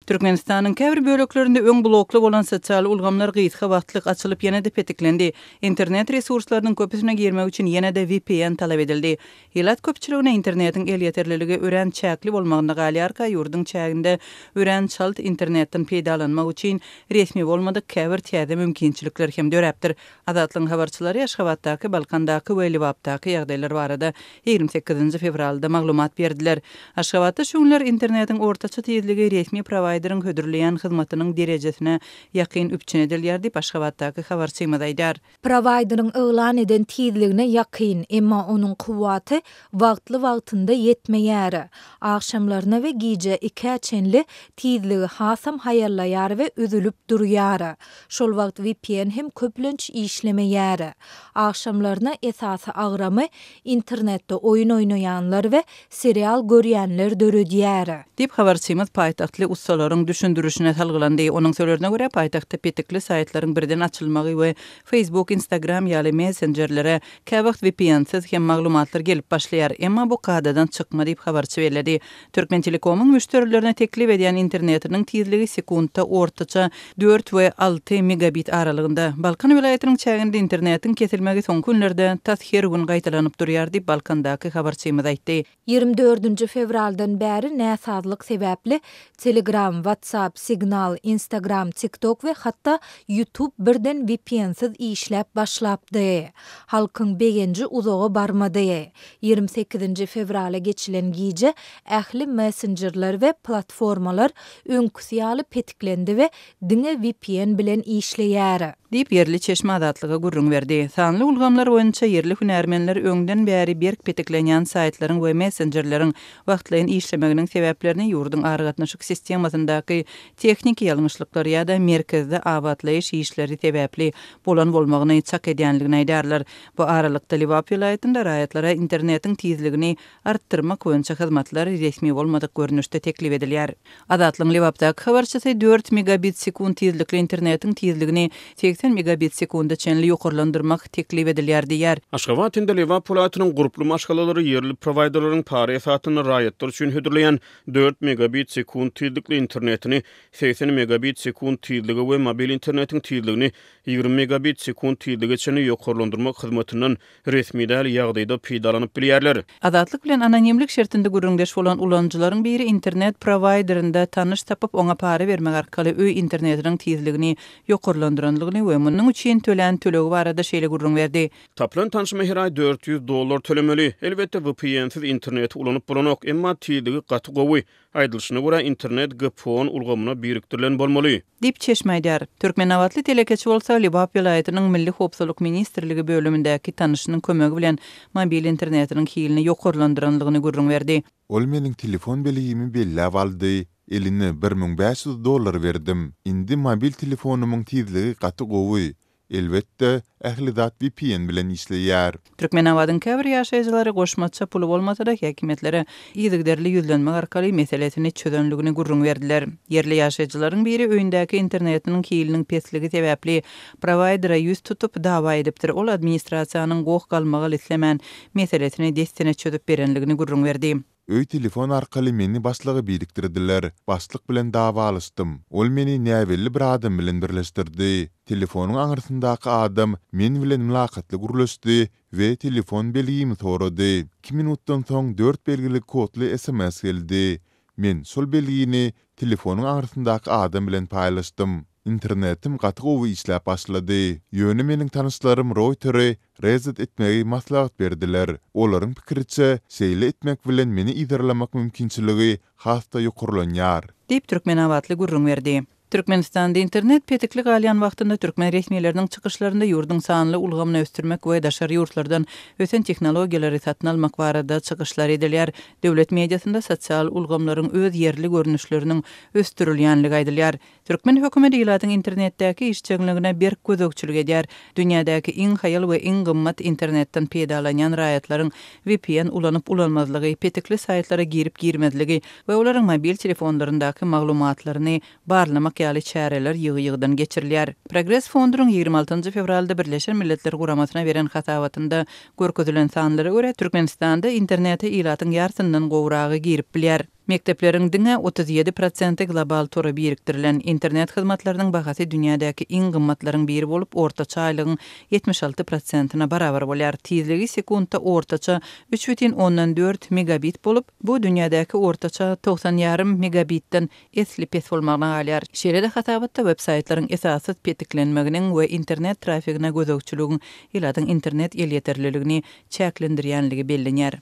Türkmenistanyň käbir böleklerinde öň blokly bolan sosial ulgamlar gysga wagtlyk açylyp ýene-de petiklendi. Internet resurslarynyň köpüsine girmek üçin ýene-de VPN talap edildi. Ilat köpçüligine internetiň elýeterliligi örän çäkli bolmagynda galýarka ýurduň çäginde örän çalt internetden peýdalanmak üçin resmi bolmadyk käbir täze mümkinçilikler hem döräpdir. Azatlygyň habarçylary Aşgabatdaky, Balkandaky we Lebapdaky ýagdaýlar barada ýigrimi sekizinji fewralda maglumat berdiler. Aşgabatda şu günler internetiň ortaça tizligi resmi prowaýderiň hödürleýän hyzmatynyň derejesine ýakyn üpjün edilýär diýip, Aşgabatdaky habarçymyz aýdýar. Prowaýderiň yglan eden tizligine ýakyn, emma onuň kuwwaty wagtly-wagtynda ýetmeýär. Agşamlaryna we gije ikä çenli tizligi hasam haýallaýar we üzülip durýar. Şol wagt vpn hem köplenç işlemeýär. Agşamlaryna esasy agramy internetde oýun oýnaýanlar we serial görýänler döredýär. Diýip, habarçymyz paýtagtly ussalaryň düşündirişine salgylandy. Onuň sözlerine görä, paýtagtda petikli saýtlaryň birden açylmagy we Facebook, Instagram ýaly messenjerlere käwagt vpn-siz hem maglumatlar gelip başlaýar. Emma bu kadadan çykma diýip, habarçy belledi. Türkmentelekomyň müşderilerine teklip edýän internetiniň tizligi sekuntda ortaça dört we alty megabit aralygynda. Balkan welaýatynyň çäginde internetiň kesilmegi soňky günlerde tas her gün gaýtalanyp durýar diýip, Balkandaky habarçymyz aýtdy. Ýigrimi dördünji fewraldan bäri näsazlyk sebäpli Telegram, WhatsApp, Signal, Instagram, TikTok we hatda YouTube birden vpn-siz işläp başlapdy. Halkyň begenji uzaga barmady. Ýigrimi sekizinji fewrala geçilen gije ähli messenjerler we platformalar öňküsi ýaly petiklendi we diňe vpn bilen işleýär. Diýip, ýerli çeşme Azatlyga gürrüň berdi. Sanly ulgamlar boýunça ýerli hünärmenler öňden bäri berk petiklenýän saýtlaryň we messenjerleriň wagtlaýyn işlemeginiň sebäplerini ýurduň aragatnaşyk sistemasyndaky tehniki ýalňyşlyklar ýa-da merkezde abatlaýyş işleri sebäpli bolan bolmagyny çak edýändigini aýdýarlar. Bu aralykda, Lebap welaýatynda raýatlara internetiň tizligini artdyrmak boýunça hyzmatlar resmi bolmadyk görnüşde teklip edilýär. Azatlygyň Lebapdaky habarçysy dört megabit sekunt tizlikli internetiň tizligini segsen megabit sekunda çenli ýokarlandyrmak teklip edilýär diýýär. Aşgabat hem-de Lebap welaýatynyň gurply maşgalalary ýerli prowayderleriň para esasynda raýatlar üçin hödürleýän dört megabit sekunt tizlikli internetini segsen megabit sekunt tizlige we mobil internetiň tizligini Ýigrimi megabit sekunt tizlige çenli ýokarlandyrmak hyzmatyndan resmi däl ýagdaýda peýdalanyp bilýärler. Azatlyk bilen anonimlik şertinde gürrüňdeş bolan ulanyjylaryň biri internet prowaýderinde tanyş tapyp, oňa para bermek arkaly öý internetiniň tizligini ýokarlandyrandygyny we munuň üçin tölän tölegi barada şeýle gürrüň berdi. Tapylan tanşyma her aý dört ýüz dollar tölemeli. Elbetde, VPN-siz interneti ulanyp bolanok, emma tizligi gaty gowy. Aýdylyşyna görä, internet GPON ulgamyna birikdirilen bolmaly. Diýip, çeşme aýdýar. Türkmenabatly telekeçi bolsa Lebap welaýatynyň Milli howpsuzlyk ministrligi bölümindäki tanyşynyň kömegi bilen mobil internetiniň hilini ýokarlandyranlygyny gürrüň berdi. Ol meniň telefon belgimi belläp aldy, eline bir müň bäş ýüz dollar berdim. Indi mobil telefonymyň tizligi gaty gowy, Elbetde, ähli zat vpn bilen işleýär. Türkmenabadyň käbir ýaşaýjylary goşmaça puly bolmasa-da häkimiýetlere yzygiderli ýüzlenmek arkaly meselesini çözenligini gürrüň berdiler. Ýerli ýaşaýjylaryň biri öýündäki internetiniň hiliniň pesligi sebäpli prowaýdera ýüz tutup, dawa edipdir, ol administrasiýanyň goh-galmagal islemän, meselesini dessine çözüp berenligini gürrüň berdi. Öý telefon arkaly meni başlyga birikdirdiler. Başlyk bilen dawalaşdym. Ol meni näbelli bir adam bilen birleşdirdi. Telefonyň aňrysyndaky adam men bilen mylakatly gürleşdi we telefon belgimi sorady. Iki minutdan soň dört belgili kodly sms geldi. Men şol belgini Telefonyň aňrysyndaky adam bilen paýlaşdym. Internetim gaty gowy işläp başlady. Ýöne meniň tanyşlarym routeri reset etmegi maslahat berdiler. Olaryň pikiriçe, şeýle etmek bilen meni yzarlamak mümkinçiligi has-da ýokarlanýar. Diýip, türkmenabatly gürrüň berdi. Türkmenistanda internet petikli galýan wagtynda türkmen resmileriniň çykyşlarynda ýurduň sanly ulgamyny ösdürmek we daşary ýurtlardan ösen tehnologiýalary satyn almak barada çykyşlar edilýär. Döwlet mediasynda sosial ulgamlaryň öz ýerli görnüşleriniň ösdürilýänligi aýdylýar. Türkmen hökümeti ilatyň internetdäki işjeňligine berk gözegçilik edýär, dünýädäki iň haýal we iň gymmat internetden peýdalanýan raýatlaryň vpn ulanyp-ulanmazlygy, petikli saýtlara girip-girmezligi we olaryň mobil telefonlaryndaky maglumatlaryny barlamak ýaly çäreler ýygy-ýygydan geçirilýär. Progres Fondryň ýigrimi altynjy fewralda Birleşen Milletler Guramasyna beren hasabatynda görkezilen sanlara görä, Türkmenistanda internete ilatyň ýarsyndan gowragy girip bilýär. Mekdepleriň diňe otuz ýedi prosenti global tora birikdirilen. Internet hyzmatlarynyň bahasy dünýädäki iň gymmatlaryň biri bolup, ortaça aýlygyň ýetmiş alty prosentina barabar bolýar. Tizligi sekuntda ortaça üç bütin ondan dört megabit bolup, bu dünýädäki ortaça togsan ýarym megabitden esli pes bolmagyna galýar. Şeýle-de hasabatda websaýtlaryň esassyz petiklenmeginiň we internet trafigine gözegçiligiň ilatyň internet elýeterliligini çäklendirýänligi bellenýär.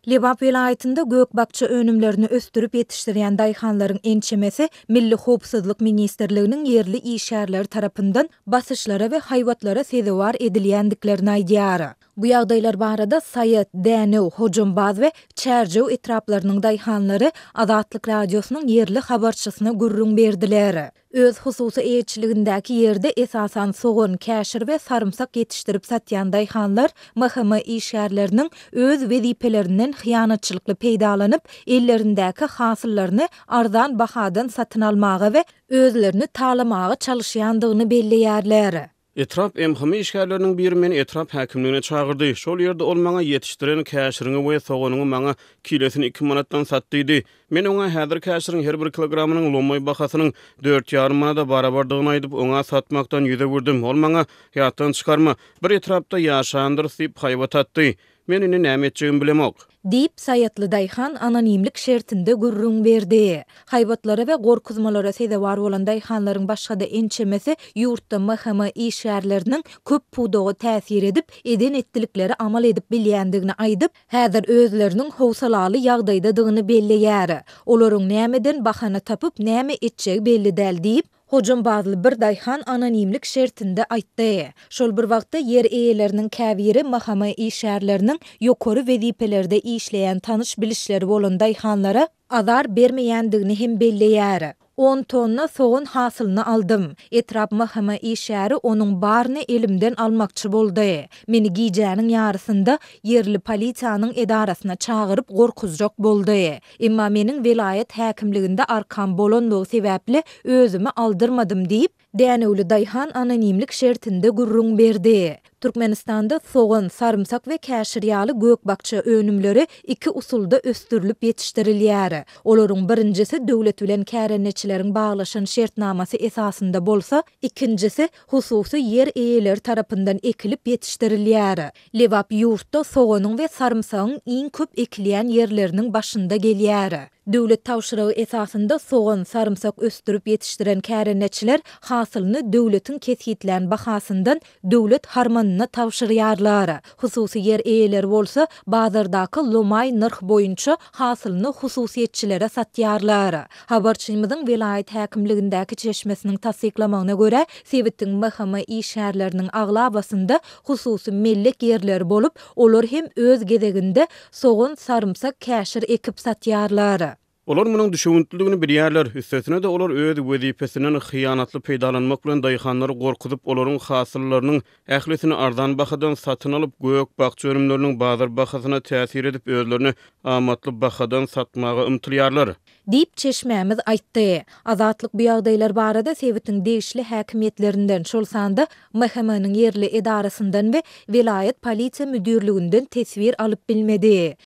Lebap welaýatynda gök-bakja önümlerini ösdürip ýetişdirýän daýhanlaryň ençemesi Milli howpsuzlyk ministrliginiň ýerli işgärleri tarapyndan basyşlara we haýbatlara sezewar edilýändiklerini aýdýar. Bu ýagdaýlar barada Saýat, Dänew, Hojambaz we Çärjew etraplarynyň daýhanlary Azatlyk Radiosynyň ýerli habarçysyna gürrüň berdiler. Öz hususy eýeçiligindäki ýerde esasan sogan, käşir we sarymsak ýetişdirip satýan daýhanlar MHM işgärleriniň öz wezipelerinden hyýanatçylykly peýdalanyp, ellerindäki hasyllaryny arzan bahadan satyn almaga we özlerini talamaga çalyşýandygyny belleýärler. Etrap MHM işgärleriniň biri meni etrap häkimligine çagyrdy. Şol ýerde ol maňa ýetişdiren käşiriňi we soganyňy maňa kilesini iki manatdan sat diýdi. Men oňa häzir käşiriň her bir kilogramynyň lomaý bahasynyň dört ýarym manada barabardygyny aýdyp, oňa satmakdan ýüz öwürdim. Ol maňa, Ýatdan çykarma, bir etrapda ýaşandyrys diýip haýbat atdy. Men indi näme etjegimi bilemok. Diýip, Saýatly daýhan anonimlik şertinde gürrüň berdi. Haýbatlara we gorkuzmalara sezewar bolan daýhanlaryň başga-da ençemesi ýurtda MHM işgärleriniň köp pudaga täsir edip, eden-etdilikleri amal edip bilýändigini aýdyp, häzir özleriniň howsalaly ýagdaýdadygyny belleýär. Olaryň nämeden bahana tapyp, näme etjegi belli däl diýip, Hojambazly bir daýhan anonimlik şertinde aýtdy. Şol bir wagtda ýer eýeleriniň käbiri MHM işgärleriniň ýokary wezipelerde işleýän tanyş-bilişleri bolan daýhanlara azar bermeýändigini hem belleýär. On tonna sogan hasylyny aldym. Etrap MHM işgäri onuň baryny elimden almakçy boldy. Meni gijäniň ýarysynda ýerli polisiýanyň edarasyna çagyryp gorkuzjak boldy. Emma meniň welaýat häkimliginde arkam bolanlygy sebäpli özümi aldyrmadym diýip, Dänewli daýhan anonimlik şertinde gürrüň berdi. Türkmenistanda sogan, sarymsak we käşir ýaly gök-bakja önümleri iki usulda ösdürilip ýetişdirilýär. Olaryň birinjisi döwlet bilen kärendeçileriň baglaşan şertnamasy esasynda bolsa, Ikinjisi, hususy ýer eýeleri tarapyndan ekilip ýetişdirilýär. Lebap ýurtda soganyň we sarymsagyň iň köp ekilýän ýerleriniň başynda gelýär. Döwlet tabşyrygy esasynda sogan, sarymsak ösdürip ýetişdiren kärendeçiler hasylyny döwletiň kesgitlän bahasyndan döwlet harmanyna tabşyrýarlar, hususy ýer eýeleri bolsa bazardaky lomaý nyrh boýunça hasylyny hususyýetçilere satýarlar. Habarçymyzyň welaýat häkimligindäki çeşmesiniň tassyklamagyna görä, sebitiň MHM işgärleriniň aglabasynda hususy mellek ýerleri bolup, olar hem öz gezeginde sogan, sarymsak, käşir ekip satýarlar. Olar munuň düşewüntlidigini bilýärler, üstesine-de olar öz wezipesinden hyýanatly peýdalanmak bilen daýhanlary gorkuzyp, olaryň hasyllarynyň ählisini arzan bahadan satyn alyp, gök-bakja önümleriniň bazar bahasyna täsir edip, özlerine amatly bahadan satmaga ymtylýarlar. Diýip, çeşmämiz aýtdy. Azatlyk bu ýagdaýlar barada sebitiň degişli häkimiýetlerinden, şol sanda MHM-niň ýerli edarasyndan we welaýat polisiýa müdirliginden teswir alyp bilmedi.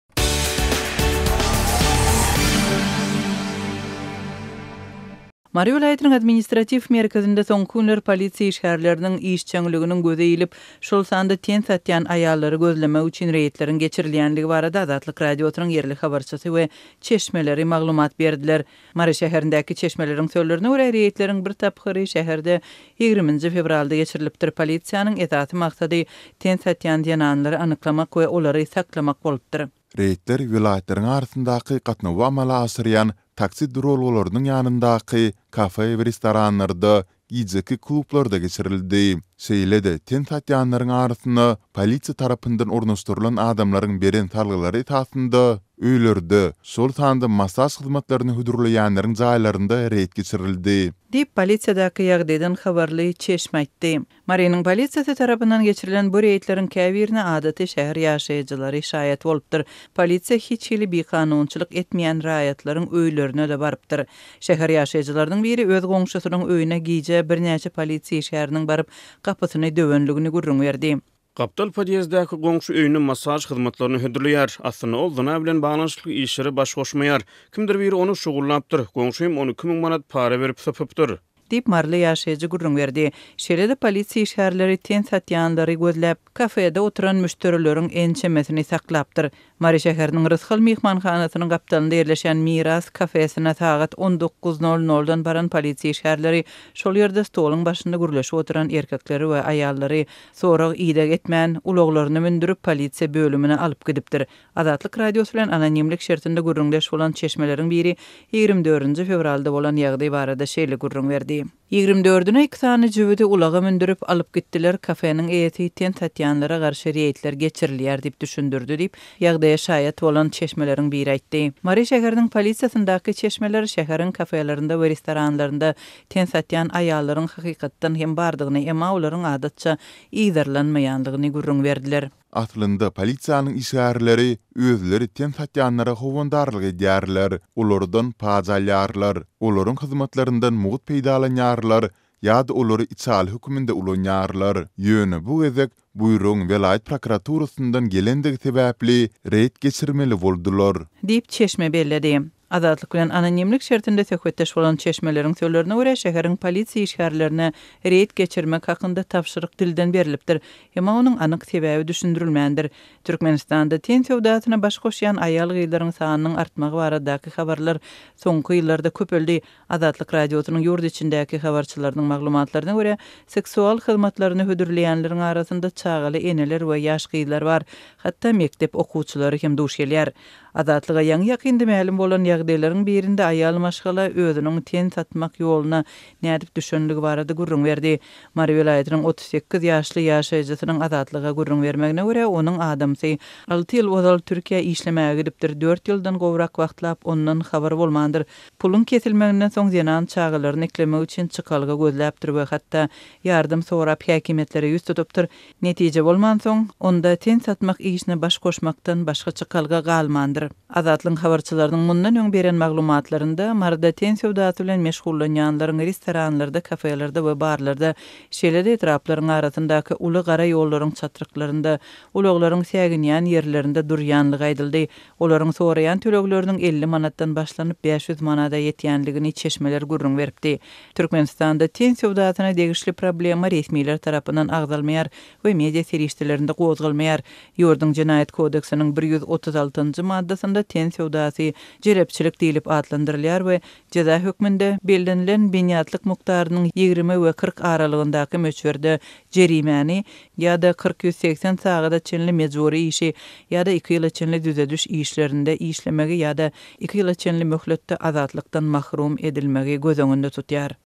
Mary welaýatynyň administratiw merkezinde soňky günler polisiýa işgärleriniň işjeňliginiň göze ilip, şol sanda ten satýan aýallary gözlemek üçin reýdleriň geçirilýändigi barada Azatlyk Radiosynyň ýerli habarçysy we çeşmeleri maglumat berdiler. Mary şäherindäki çeşmeleriň sözlerine görä, reýdleriň bir tapgyry şäherde ýigriminji fewralda geçirilipdir. Polisiýanyň esasy maksady ten satýan zenanlary anyklamak we olary saklamak bolupdyr. Reýdler welaýatlaryň arasyndaky gatnawy amala aşyrýan taksi duralgalarynyň ýanyndaky kafe we restoranlarda, gijeki klublarda geçirildi. Şeýle-de, ten satýanlaryň arasynda polisiýa tarapyndan ornaşdyrylan adamlaryň beren salgylary esasynda öýlerde, şol sanda massaž hyzmatlaryny hödürleýänleriň jaýlarynda reýd geçirildi. Diýip, polisiýadaky ýagdaýdan habarly çeşme aýtdy. Marynyň polisiýasy tarapyndan geçirilen bu reýdleriň käbirine adaty şäher ýaşaýjylary şaýat bolupdyr. Polisiýa hiç hili bikanunçylyk etmeýän raýatlaryň öýlerine-de barypdyr. Şäher ýaşaýjylarynyň biri öz goňşusynyň öýüne gije birnäçe polisiýa işgäriniň baryp, gapysyny döwendigini gürrüň berdi. Gapdal podýezdäki goňşy öýüne massaž hyzmatlaryny hödürleýär. Aslynda ol zyna bilen baglanyşykly işlere baş goşmaýar. Kimdir biri ony şugullapdyr. Goňşym ony iki müň manat para berip sypypdyr. Diýip, maryly ýaşaýjy gürrüň berdi. Şeýle-de polisiýa işgärleri ten satýanlary gözläp, kafede oturan müşderileriň ençemesini saklapdyr. Mary şäheriniň Rysgal myhmanhanasynyň gapdalynda ýerleşen Miras kafesine sagat on dokuz nol noldan baran polisiýa işgärleri şol ýerde stoluň başynda gürleşip oturan erkekleri we aýallary sorag-ideg etmän, ulaglaryna mündürip, polisiýa bölümine alyp gidipdir. Azatlyk Radiosy bilen anonimlik şertinde gürrüňdeş bolan çeşmeleriň biri ýigrimi dördünji fewralda bolan ýagdaý barada şeýle gürrüň berdi. Ýigrimi dördüne iki sany jübüdi ulaga mündürip, alyp gitdiler, kafeniň eýesi tent atýanlara garşy reýdler geçirilýär diýip düşündirdi diýip, ýagdaýa şaýat bolan çeşmeleriň biri aýtdy. Mary şäheriniň polisiýasyndaky çeşmeler şäheriň kafelerinde we restoranlarynda tent atýan aýallaryň hakykatdan hem bardygyny, emma olaryň adatça yzarlanmaýanlygyny gürrüň berdiler. Aslynda polisiýanyň işgärleri özleri ten satýanlara howandarlyk edýärler, olardan paj alýarlar, olaryň hyzmatlaryndan mugt peýdalanýarlar ýa-da olary içaly höküminde ulanýarlar. Ýöne bu gezek buýrugyň welaýat prokuraturasyndan gelendigi sebäpli reýd geçirmeli boldular. Diýip, çeşme belledi. Azatlyk bilen anonimlik şertinde söhbetdeş bolan çeşmeleriň sözlerine görä, şäheriň polisiýa işgärlerine reýd geçirmek hakynda tabşyryk dilden berlipdir, emma onuň anyk sebäbi düşündirilmändir. Türkmenistanda ten söwdasyna baş goşýan aýal-gyzlaryň sanynyň artmagy baradaky habarlar soňky ýyllarda köpeldi, Azatlyk Radiosynyň ýurt içindäki habarçylarynyň maglumatlaryna görä, seksual hyzmatlaryny hödürleýänleriň arasynda çagaly eneler we ýaş gyzlar bar, hatda mekdep okuwçylary hem duş gelýär. Azatlyga ýaňy-ýakynda mälim bolan ýagdaýlaryň birinde aýal maşgala özüniň ten satmak ýoluna nädip düşenligi barada gürrüň berdi. Mary welaýatynyň otuz sekiz ýaşly ýaşaýjysynyň Azatlyga gürrüň bermegine görä, onuň adamsy alty ýyl ozal Türkiýä işlemäge gidipdir, dört ýyldan gowrak wagtlap ondan habar bolmandyr. Puluň kesilmeginden soň zenan çagalaryny eklemek üçin çykalga gözläpdir we hatda ýardam sorap häkimiýetlere ýüz tutupdyr. Netije bolmansoň, onda ten satmak işine baş goşmakdan başga çykalga galmandyr. Azatlygyň habarçylarynyň mundan öň beren maglumatlarynda Maryda ten söwdasy bilen meşgullanýanlaryň restoranlarda, kafelerde we barlarda, şeýle-de etraplaryň arasyndaky uly gara ýollaryň çatryklarynda, ulaglaryň säginýän ýerlerinde durýanlygy aýdyldy. Olaryň soraýan tölegleriniň elli manatdan başlanyp bäş ýüz manada ýetýändigini çeşmeler gürrüň beripdi. Türkmenistanda ten söwdasyna degişli problema resmiler tarapyndan agzalmaýar we media serişdelerinde gozgalmaýar. Ýurduň Jenaýat kodeksiniň bir ýüz otuz altynjy maddasynda ten söwdasy jelepçilik diýlip atlandyrylýar we jeza hökmünde bellenilen binýatlyk mukdarynyň ýigrimi we kyrk aralygyndaky möçberde jerimäni, ýa-da kyrk ýüz segsen sagada çenli mejbury işi, ýa-da iki ýyla çenli düzediş işlerinde işlemegi ýa-da iki ýyla çenli möhletde azatlykdan mahrum edilmegi göz öňünde tutýar.